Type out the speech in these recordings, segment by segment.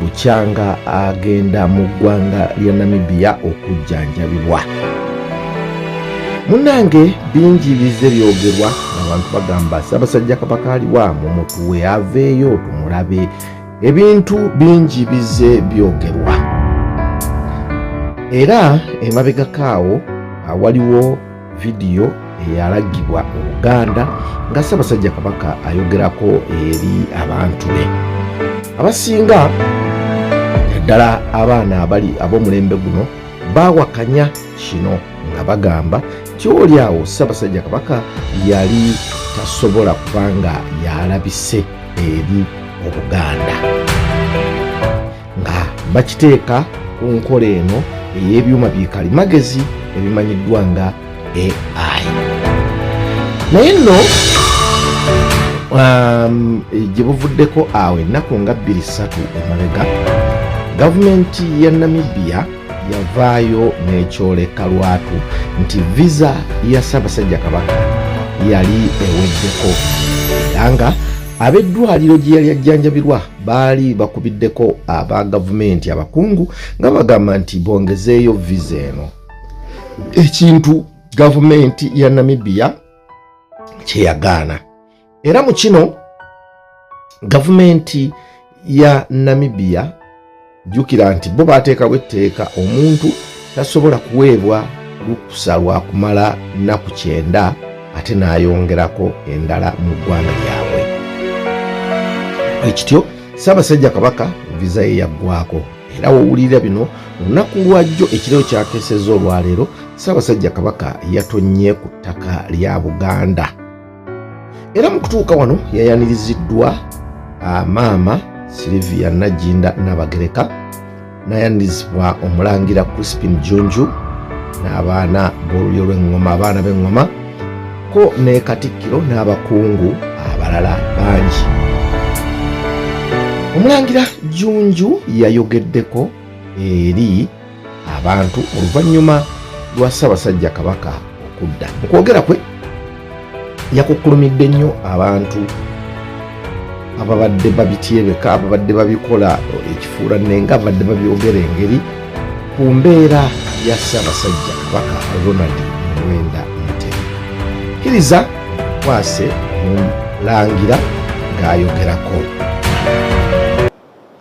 bukyanga agenda mu ggwanga lya namibiya okujjanjabibwa munange bingi bizze byogerwa abantu bagamba sabasajja kabaka aliwa mu mutuwe aveeyo tumulabe ebintu bingi bizze byogerwa era emabegakaawo awaliwo vidiyo eyalagibwa mu buganda nga ssaabasajja kabaka ayogerako eri abantu be abasinga naddala abaana abali ab'omulembe guno baawakanya kino nga bagamba nti oli awo ssaabasajja kabaka yali tasobola kuba nga yalabise eri obuganda nga bakiteeka ku nkola eno ey'ebyuma bikali magezi ebimanyiddwa nga ai naye nno um, gye buvuddeko awo ennaku nga bbiri ssatu emabega gavumenti ya namibia yavaayo n'ekyoleka lwatu nti visa ya ssaabasajja kabaka yali eweddeko era nga ab'eddwaliro gye yali ajjanjabirwa baali bakubiddeko aba gavumenti abakungu nga bagamba nti bongezeeyo viza eno ekintu gavumenti ya namibia kyeyagaana era mu kino gavumenti ya namibia jjukira nti bo baateekawo etteeka omuntu tasobola kuweebwa lukusa lwa kumala nnaku kyenda ate n'ayongerako endala mu ggwanga lyabwe ekityo ssaabasajja kabaka viza ye yaggwako era wowulira bino olunaku lwajjo ekireo kyakeeseza olwaleero ssaabasajja kabaka yatonnye ku ttaka lya buganda era mu kutuuka wano yayaniriziddwa ah, maama silivia najinda nabagereka nayanirizibwa omulangira crispin junju n'abaana b'olulyo lw'eŋŋoma abaana b'eŋŋoma ko ne katikkiro n'abakungu abalala bangi omulangira junju yayogeddeko eri abantu oluvannyuma lwa ssaabasajja kabaka okudda mu kwogera kwe yakukkulumidde nnyo abantu ababadde babityebeka ababadde babikola ekifuula nenga ababadde babyogera engeri ku mbeera ya ssaabasajja kabaka ronald muwenda mutemu kiriza kwase mulangira ng'ayogerako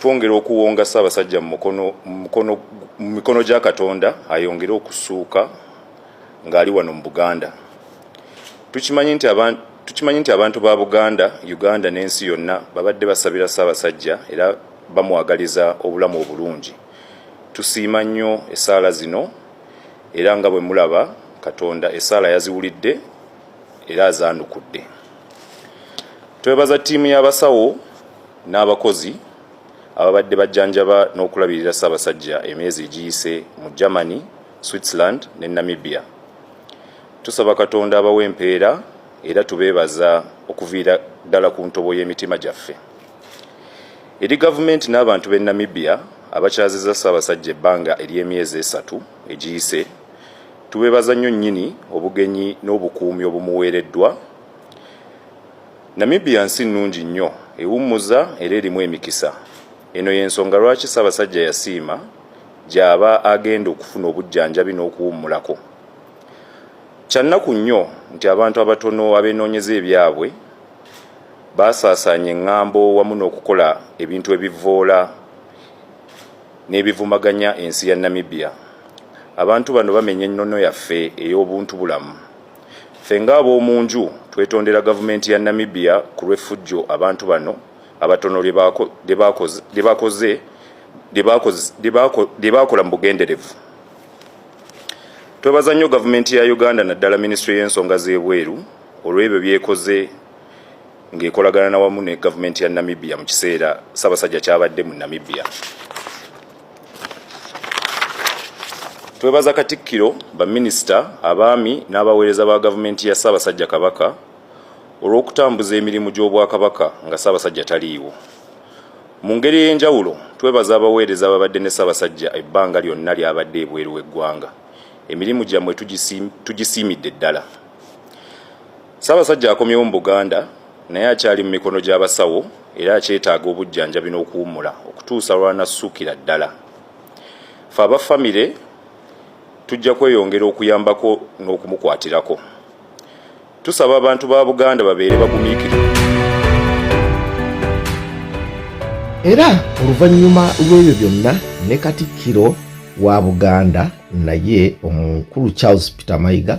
twongera okuwonga Ssaabasajja mu mikono gya Katonda ayongere okusuuka ng'ali wano mu Buganda. Tukimanyi nti abantu tukimanyi nti abantu ba Buganda, Uganda n'ensi yonna babadde basabira Ssaabasajja era bamwagaliza obulamu obulungi. Tusiima nnyo essaala zino era nga bwe mulaba Katonda essaala yaziwulidde era azandukudde twebaza ttiimu y'abasawo n'abakozi ababadde bajjanjaba n'okulabirira ssaabasajja emyezi egiyise mu germany switzerland ne namibia tusaba katonda abawa empeera era tubeebaza okuviira ddala ku ntobo y'emitima gyaffe eri gavumenti n'abantu b'e namibia abakyaziza ssaabasajja ebbanga ery'emyezi esatu egiyise Tubeebaza nnyo nnyini obugenyi n'obukuumi obumuweereddwa. Namibia nsi nnungi nnyo, ewummuza era erimu emikisa. Eno y'ensonga lwaki Ssaabasajja yasiima gy'aba agenda okufuna obujjanjabi n'okuwummulako. Kya nnaku nnyo nti abantu abatono abeenoonyeza ebyabwe baasaasaanya eŋŋambo wamu n'okukola ebintu ebivvoola n'ebivumaganya ensi ya Namibia. Abantu bano bamenya ennono yaffe ey'obuntu bulamu. Ffe ng'ab'omu nju twetondera gavumenti ya Namibia ku lw'effujjo abantu bano abatono lye baakola mu bugenderevu. Twebaza nnyo gavumenti ya Uganda naddala minisitule y'ensonga z'ebweru olw'ebyo by'ekoze ng'ekolagana na wamu ne gavumenti ya Namibia mu kiseera Ssaabasajja kyabadde mu Namibia. Twebaza Katikkiro, baminisita, abaami n'abaweereza ba gavumenti ya Ssaabasajja Kabaka olw'okutambuza emirimu gy'Obwakabaka nga Ssaabasajja taliiwo. Mu ngeri ey'enjawulo twebaza abaweereza ababadde ne Ssaabasajja ebbanga lyonna ly'abadde ebweru w'eggwanga. Emirimu gyammwe tugisiimidde ddala. Ssaabasajja akomyewo mu Buganda naye akyali mu mikono gy'abasawo era akyetaaga obujjanjabi n'okuwummula okutuusa lw'anassukira ddala. Ffe aba famire tujja kweyongera okuyambako n'okumukwatirako. Tusaba abantu ba Buganda babeere bagumiikirivu. Era oluvannyuma lw'ebyo byonna ne Katikkiro wa Buganda naye omukulu Charles Peter Mayiga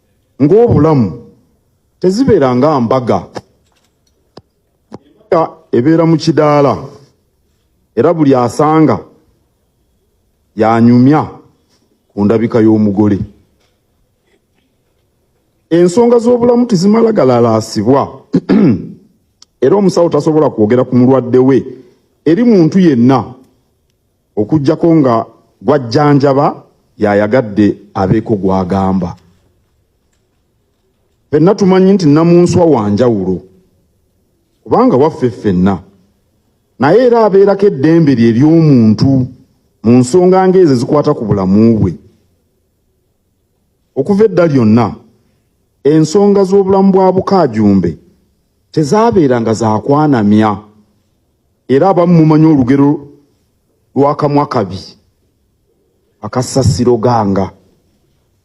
ng'obulamu tezibeera nga mbaga embaga ebeera mu kidaala era buli asanga yanyumya ku ndabika y'omugole ensonga z'obulamu tizimala galalaasibwa era omusawo tasobola kwogera ku mulwadde we eri muntu yenna okujjako nga gwajjanjaba yayagadde abeeko gwagamba fenna tumanyi nti namunswa wanjawulo kubanga waffe ffenna naye era abeerako eddembe lye ery'omuntu mu nsonga ngaezo ezikwata ku bulamu bwe okuva edda lyonna ensonga z'obulamu bwa bukaajumbe tezaabeeranga zakwanamya Era abamu mumanyi olugero lw'akamwa kabi akassasiro ganga.